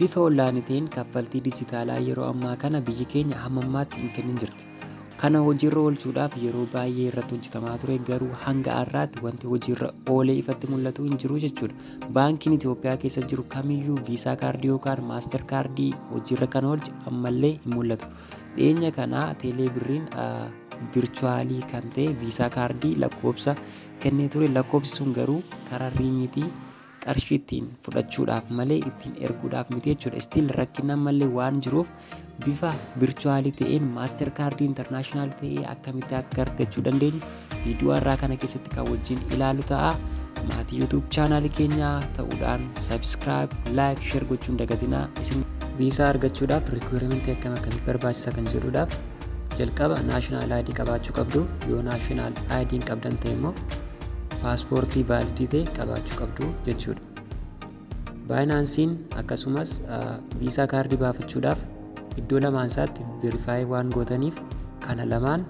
Bifa onlaayinii ta'een kaffaltii dijitaalaa yeroo ammaa kana biyyi keenya hamma ammaatti hin kennin jirti. Kana hojiirra oolchuudhaaf yeroo baay'ee irratti hojjetamaa ture garuu hanga har'aatti wanti hojiirra oolee ifatti mul'atu hin jiru jechuudha. Baankiin Itoophiyaa keessa jiru kamiyyuu viisaa kaardii yookaan maaster kaardii hojiirra kan oolche ammallee hin mul'atu. Dhiyeenya kana teelee birriin virchuwaalii kan ta'e viisaa kaardii lakkoobsa kennee ture lakkoobsi sun garuu karaa riimiitii qarshii ittiin fudhachuudhaaf malee ittiin erguudhaaf miti jechuudha. Still rakkinni ammallee waan jiruuf bifa virtuaalii ta'een maaster kaardii intarnaashinaal ta'ee akkamitti akka argachuu dandeenyu viidiyoo har'aa kana keessatti kan wajjin ilaalu ta'a. Maatii YouTube chaanaalii keenyaa ta'uudhaan subscribe, like, share gochuun dagatinaa isin viisaa argachuudhaaf rikwuurementii akkam akkamitti barbaachisa kan jedhuudhaaf jalqaba naashinaal ID qabaachuu qabdu yoo naashinaal ID hin qabdan ta'e immoo paaspoortii vaalidii ta'e qabaachuu qabdu jechuudha. Baayinaansiin akkasumas viisaa kaardii baafachuudhaaf iddoo lamaan isaatti verifaayi waan gootaniif kana lamaan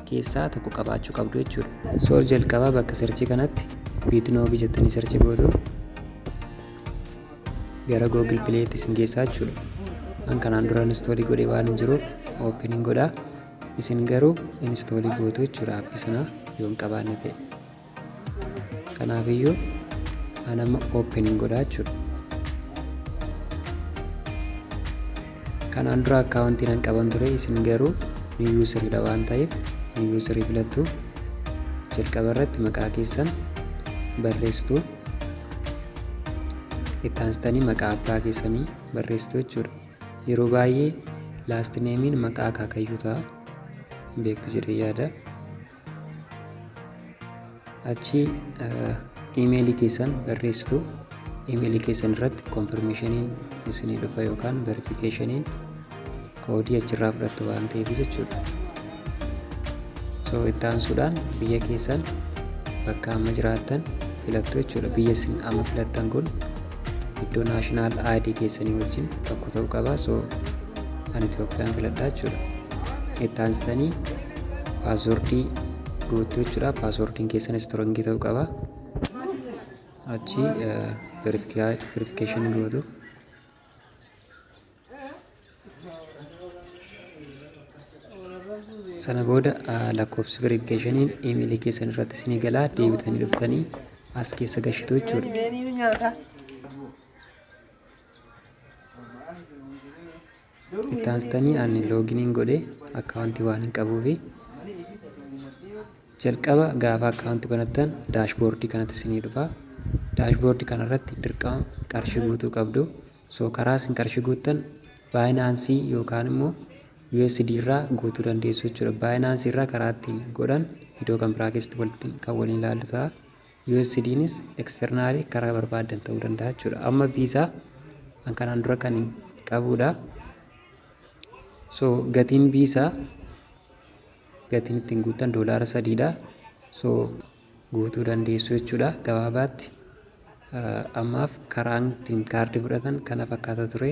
keessaa tokko qabaachuu qabdu jechuudha. Soor jalqabaa bakka sirchii kanatti biitnoobi jettanii sirchii gootu gara Google Play'tti isin geessaa jechuudha. An kanaan dura instoolii godhee waan hin jiruuf oopiniin godhaa. isin garuu instoolii gootu jechuudha appi sana yoo hin qabaanne ta'e kanaaf iyyuu anama open hin godhaa jechuudha kanaan dura akkaawuntiin hin qaban ture isin garuu ni yuusiriidha waan ta'eef ni yuusirii filattu jalqaba irratti maqaa keessan barreessitu itti aansitanii maqaa abbaa keessanii barreessitu jechuudha Yeroo baay'ee last name'n maqaa akaakayyuu ta'a beektu jedhee yaada. Achi imeelii keessan barreessitu imeelii keessan irratti konfirmeeshiniin isinii dhufa yookaan verifikeeshiniin koodii achirraa fudhattu waan ta'eef jechuudha. so itti aansuudhaan biyya keessan bakka amma jiraattan filattu jechuudha biyya isin amma filattan kun iddoo naashinaal aayidii keessanii wajjin tokko ta'uu qaba so an itoophiyaan filadhaa jechuudha itti aansitanii paaswordii guuttu jechuudha paaswordiin keessanis istirongii ta'uu qaba achi verifikeeshinii gootu sana booda lakkoofsi verifikeeshiniin imeelii keessan irratti isinii galaa deebitanii dhuftanii as keessa gashitu jechuudha. Itti aansitanii ani looginiin godhee akkaawuntii waan hin qabuufi jalqaba gaafa akkaawuntii banattan daashboordii kanatti isinii dhufa. Daashboordii kanarratti dirqama qarshii guutuu qabdu. So karaa isin qarshii guuttan Binance yookaan immoo USD irraa guutuu dandeessu jechuudha. Binance irraa karaa ittiin godhan video kan biraa keessatti walitti kan waliin ilaallu ta'a. USDnis externally karaa barbaadan ta'uu danda'a jechuudha. Amma visa an kanaan dura kan qabudha. So gatiin visa gatiin ittiin guuttan doolaara sadiidha. So guutuu dandeessu jechuudha gabaabaatti ammaaf karaan ittiin kaardii fudhatan kana fakkaata ture.